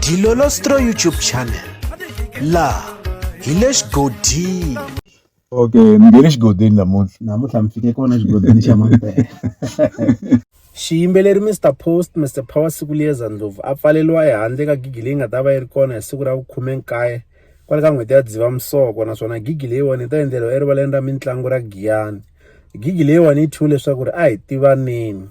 Dilolostro YouTube channel laha hi le xigodini okay ni nge le xigodini namuntlha namuntlha mi fike kona xigodini xa mampela xiyimbeleri mr post mr power siku liyeza ndlovu a pfaleliwa ehandle ka gigi leyi nga ta va yi ri kona hi siku ra vukhume nkaye kwale ka n'hweti ya dzivamisoko naswona gigi leyiwani yi ta endleriwa erivaleni ra mitlangu ra giyani gigi leyiwani yi thyiwe leswaku ri a hi tivaneni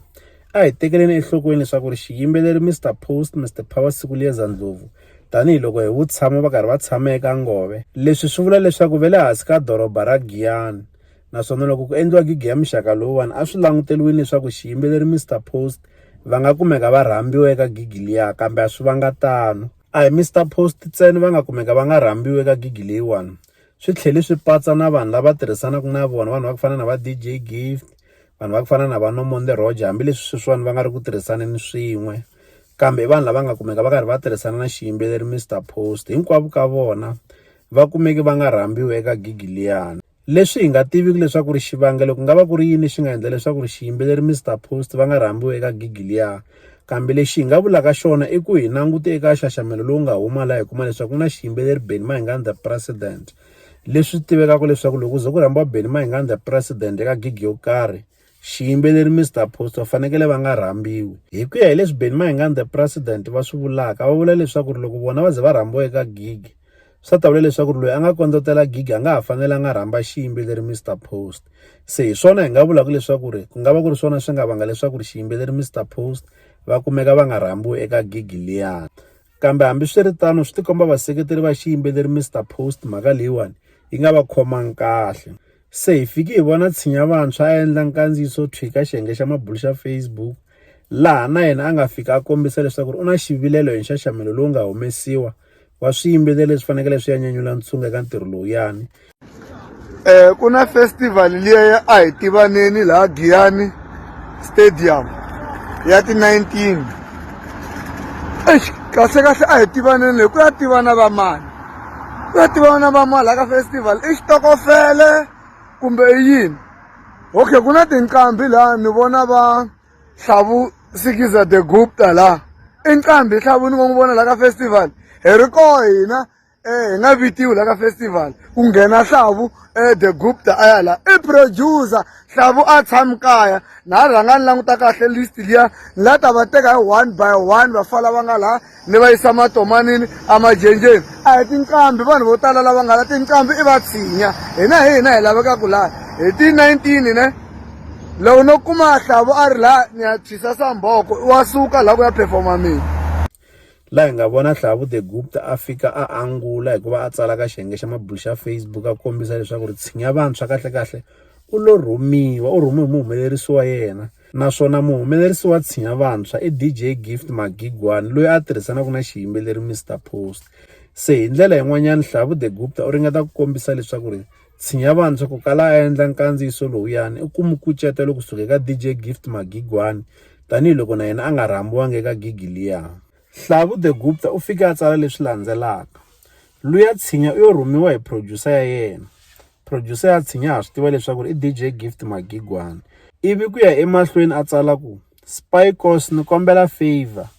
A hi tekeleni enhlokweni leswaku ri xiyimbeleri Mister Post, Mister Power Sikulieza Ndlovu, tanihi loko hi vutshamo va karhi va tshama eka ngove. Leswi swi vula leswaku ve le hansi ka doroba ra Giyani, naswona loko ku endliwa gigi ya muxaka lowuwani a swi languteriwini leswaku xiyimbeleri Mister Post va nga kumeka va rhambiwa eka gigi liya, kambe a swi vanga tano. A hi Mister Post ntsena va nga kumeka va nga rhambiwi eka gigi leyiwani. swi tlhele swi patsa na vanhu lava tirhisanaka na vona vanhu va ku fana na va DJ Gift vanhu va ku fana na va Nomonde Roger hambileswi sweswiwani va nga ri ku tirhisaneni swin'we kambe i vanhu lava nga kumeka va karhi va tirhisana na xiyimbeleri Mister Post hinkwavo ka vona va kumeke va nga rhambiwi eka gigi liyani leswi hi nga tiviki leswaku ri xivangelo ku nga va ku ri yini xi nga endla leswaku ri xiyimbeleri Mister Post va nga rhambiwi eka gigi liya Kambe lexi hi nga vulaka xona i ku hi langute eka nxaxamelo lowu nga huma laha hi kuma leswaku ku na xiyimbeleri Benny Mayengani the President. Leswi tivekaka leswaku loko ze ku rhambiwa Benny Mayengani the President eka gig yo karhi, xiyimbeleri Mister Apostle va fanekele va nga rhambiwi. Hi ku ya hi leswi Benny Mayengani the President va swi vulaka, va vula leswaku loko vona va ze va rhambiwa eka gig, Swa ta vula leswaku ri loyi a nga kondzotela gig a nga ha fanelanga a rhamba xiyimbeleri Mister Post. Se hi swona hi nga vulaka leswaku ri ku nga va ku ri swona swi nga vanga leswaku ri xiyimbeleri Mister Post va kumeka va nga rhambiwi eka gig liya. Kambe hambiswiritano swi tikomba vaseketeri va xiyimbeleri Mister Post mhaka leyiwani yi nga va khomangi kahle. Se hi fiki hi vona Tshinya Vantshwa a endla nkandziyiso thwi ka xiyenge xa mabulo xa Facebook laha na yena a nga fika a kombisa leswaku ri u na xivilelo hi nxaxamelo lowu nga humesiwa wa swiyimbeleri leswi fanekele swi ya nyanyula ntshungu eka ntirho lowuyani um ku na festival liya ya a hi tivaneni laha giyani stadium ya ti-nineteen eish kahle kahle a hi tivaneni leyi ku ya tivana va mani ku ya tivana va mani laha ka festival i xitokofele kumbe i yini okay ku na tinqambi laha ni vona va hlavu sikiza the gupta la i nqambi hlavu ni ngo n'wi vona la ka festival hi ri koho hina um hi nga vitiwi la ka festival ku nghena hlavu um the gupta a ya la i producer hlavu a tshami kaya na ha rhanga ni languta kahle list liya ni la ta va teka hi one by one va fala va nga laha ni va yisa matomanini emajenjeni a hi tinqambi vanhu vo tala lava nga la tinqambi i vatshinya hina hi hina hi laveka ku laha hi ti 19 ne loko no kuma hlavu a ri laha ni ya tshwisa samboko wa suka laha ku ya performa mina laha hi nga vona hlavu the gupta a fika a angula hikuva a tsala ka xiyenge xa mabulu xa facebook a kombisa leswaku ri tshinya vantshwa kahlekahle u lo rhumiwa u rhumiwe hi muhumelerisi wa yena naswona muhumelerisi wa tshinya vantshwa i DJ Gift Magigwani loyi a tirhisanaka na xiyimbeleri Mister Post. Se hi ndlela yin'wanyana Hlavu The Gupta u ringeta ku kombisa leswaku ri tshinya vantshwa ku kala a endla nkandziyiso lowuyani i ku mi kucetelo kusuka eka DJ Gift Magigwani tanihiloko na yena a nga rhambiwanga eka gigi liya. Hlavu The Gupta u fike a tsala leswi landzelaka, Luya tshinya u yo rhumiwa hi producer ya yena. producer ya tshinya ha swi tiva leswaku i DJ Gift Magigwani ivi ku ya emahlweni a tsala ku Spikos ni kombela favor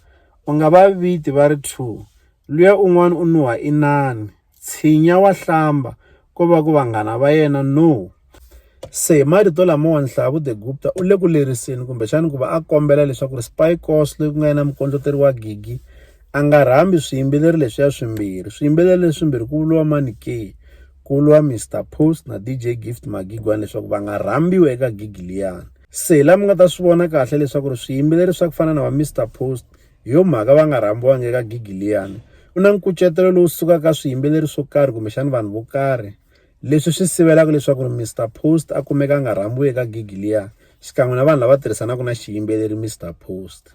u nga va viti va ri two luya un'wana u nuha inani tshinya wa hlamba ko va ku vanghana va yena no se hi marito lamawa nhlavu the gupta u le ku leriseni kumbexani ku va a kombela leswaku ri spikos loyi ku nga yena mukondloteri wa gigi a nga rhambi swiyimbeleri leswiya swimbirhi swiyimbeleri leswimbirhi ku vuriwa mani ke Kulwa, Mister Post na DJ Gift Magigwani leswaku va nga rhambiwi eka gigi liyani. Se la mi nga ta swi vona kahle leswaku ri swiyimbeleri swa ku fana na va Mister Post hi yo mhaka va nga rhambiwangi eka gigi liyani. Ku na nkucetelo lowu sukaka ka swiyimbeleri swo karhi kumbexana vanhu vo karhi leswi swi sivelaka leswaku ri Mister Post a kumeka a nga rhambiwi eka gigi liyani xikan'we na vanhu lava tirhisanaka na xiyimbeleri Mister Post.